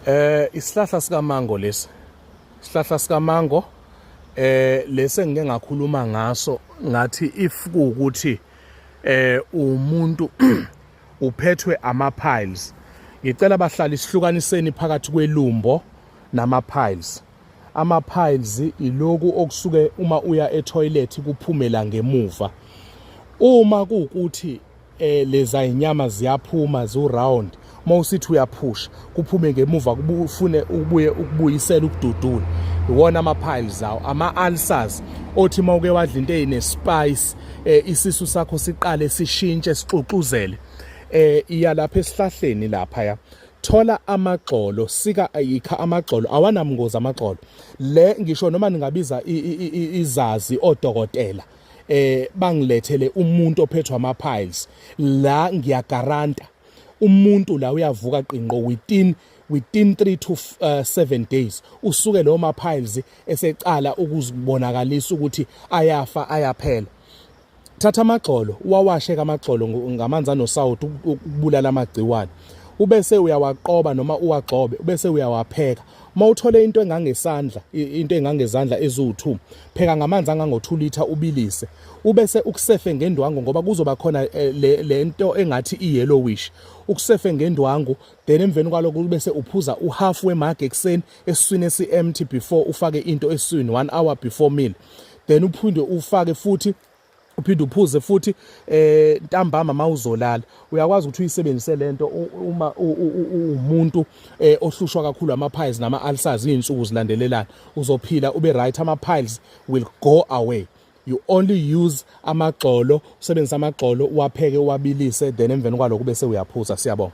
Eh isihlahla sika mango lesi. Isihlahla sika mango eh lesi engike ngakhuluma ngaso ngathi if kuukuthi eh umuntu uphethwe ama piles. Ngicela bahlali isihlukaniseni phakathi kwelumbo nama piles. Ama piles iloku okusuke uma uya e toilet kuphumela ngemuva. Uma kuukuthi eh leza inyama ziyaphuma zu round uma usithi uyaphusha kuphume ngemuva kufune ukubuye ukubuyisela ukududula iwona ama-piles awo ama-ulcers othi uma uke wadla into eyine-spice eh, isisu sakho siqale sishintshe sixuxuzele eh iya lapha esihlahleni lapha ya thola amagxolo sika ayikha amagxolo awanamngozi amagxolo le ngisho noma ningabiza izazi odokotela eh bangilethele umuntu ophethwe ama piles la ngiyagaranta umuntu la uyavuka qinqo within within 3 to 7 uh, days usuke lo ma piles esecala ukuzibonakalisa ukuthi ayafa ayaphela thatha amagxolo wawashe kamagxolo ngamanzi anosawuthi ukubulala amagciwane ubese uyawaqoba noma uwagxobe ubese uyawapheka Uma uthole into engangesandla, into engangezandla eziwu2, pheka ngamanzi angango2 litha ubilise. Ubese ukusefe ngendwangu ngoba kuzoba khona eh, le lento engathi iyellowish. Ukusefe ngendwangu, then emveni kwaloko ubese uphuza uhalf wemug ekseni esiswini esiempty before ufake into esiswini 1 hour before meal. Then uphinde ufake futhi uphinde uphuze futhi eh ntambama mawuzolala uyakwazi ukuthi uyisebenzise lento uma umuntu eh, ohlushwa kakhulu ama piles nama ulcers izinsuku zilandelelana uzophila ube right ama piles will go away you only use amagxolo usebenzisa amagxolo uwapheke uwabilise then emveni kwaloko bese uyaphuza siyabonga